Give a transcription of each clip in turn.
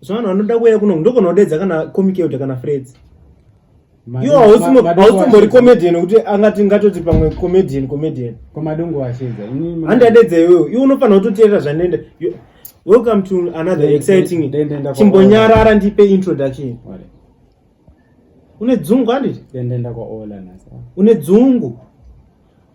so vanhu vanoda kuuya kuno ndogona kudedza kana comic elder kana freds iwo hausimbori comedian kuti angati ngatoti pamwe comedian comedian komadongo washedza handi adedza iwewo iwe unofanira kutoteerera zvanenda welcome to another exciting chimbonyarara ndipe introduction une dzungu handiti une dzungu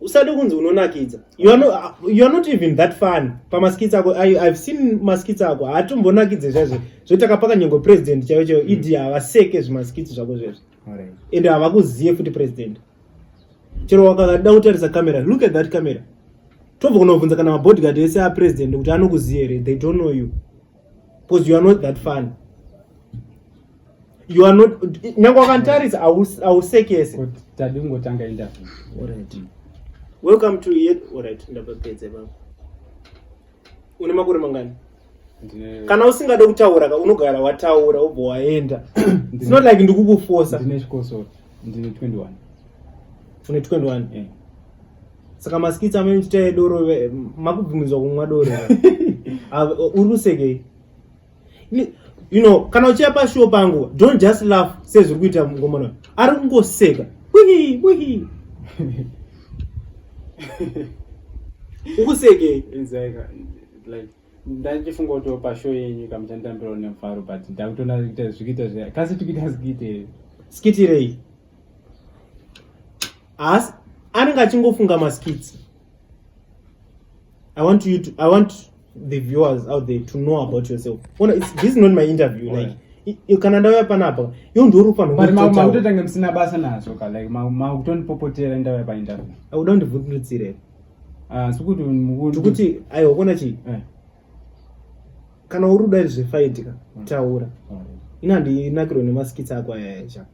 usati kunzi unonakidza you are, no, you are not even that fun pamaskits ako I, i've seen maskits ako haatombonakidze zvazve zvotakapaka nyengo president chaivo chaivo mm. idi havaseke zvimaskits zvako zvezvo ende havakuzive futi president chero wakada kutarisa camera look at that camera tobva kunobvunza kana mabodyguard ese apresident kuti anokuzive here they don't know you because you are not that fun you are not nyange wakanditarisa hausekese kuti tadi kungotanga interview alright mm. welcome to yet alright ndapedze baba une makore mangani kana usingade kutaura ka unogara wataura wobva waenda it's not like ndikukufosa ndine chikosoro ndine 21 une 21 yeah. Saka maskits amene chita yedoro makubvumidzwa kumwa doro. Uri kusekei? You know, kana uchiya pashow pangu, don't just laugh sezviri kuita mungomana. Ari kungoseka. Wihi, wihi. Ukusekei? Like ndachifunga kuti opa show yenyu kama chanditambirawo nemufaro but ndakutoona kuita zvikuita zve kasi tikuita zikuite skitirei asi anenge achingofunga maskits i want you to i want the viewers out there to know about yourself ona it's, this is not my interview oh, like yeah kana ndauya panapa iyo ndiorufanmakutotange musina basa nazvo ka like makutonipopotera ndauya painterview auda ndivhundutsire Ah, sikuti mukuti tikuti aiwa kona chii eh. kana uri kuda zvefaitika mm. taura mm. ini handinakirwe nemaskits ako ayayacha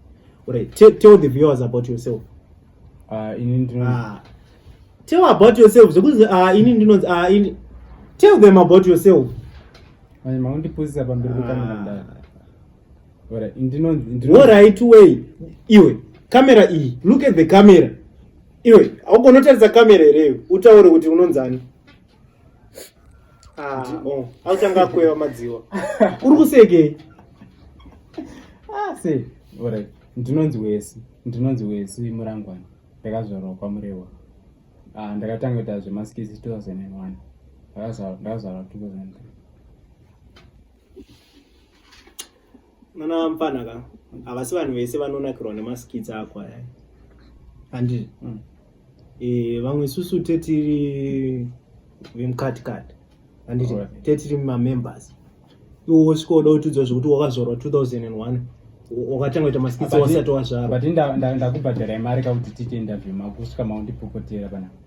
right tell the viewers about yourself ah, ah. tell about yourself zvekuti ini ndinonzi ini tell them about yourself makundipusisa pamberi pekamera ndinonzi ndinonzi right way iwe kamera iyi look at the camera iwe haugoni utaridza kamera here iwe utaure kuti unonzani ah. oh, auchanga akweva madziwa uri kusekei ah, se orit ndinonzi wesi ndinonzi wesi murangwana ndakazvarwa kwamurewa ah, ndakatanga kuita zvemaskisi 2001 ndakazvarwa 2003 Mwana mfana ka havasi vanhu vese vanonakirwa nemaskits ako aya handi mm. e, vamwe isusu tetiri vemukati-kati handiti right. tetiri mamembers iwo wosvika woda kutiudzwa zvekuti wakazorwa 2001 wakatanga kuita maskits wasati wazvarwa but ndakubhadhara imari kakuti tiite interview makusvika maundipopotera panapa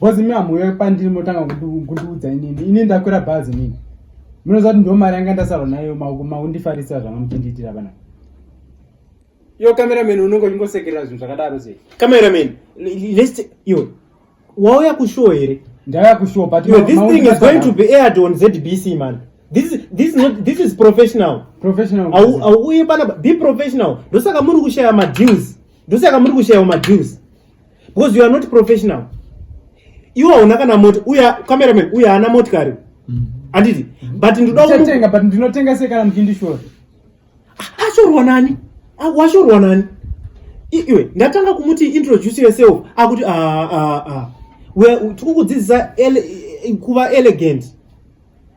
Bozi mi hamuuya pandiri motanga kundiudza inini. Ini ndakwira bhazi nini. Munoziva kuti ndiwo mari yanga ndasarwa nayo makundifarisa zvanga muchindiitira vana. Yo cameraman unongo chingosekerera zvinhu zvakadaro sei? Cameraman, let's yo. Wauya kushow here? Ndauya kushow but yo, this thing is going to be aired on ZBC man. This is this is not this is professional. Professional. Au au uye bana be professional. Ndosaka muri kushaya ma deals. Ndosaka muri kushaya ma deals. because you are not professional iwe hauna kana mota uya cameraman uya haana motikari mm-hmm. handiti but ndodatenga but ndinotenga sei kana muchindishora ah, ashorwa nani ah, washorwa nani iwe ndatanga kumuti introduce yourself akuti ah, tikukudzidzisa kuva elegant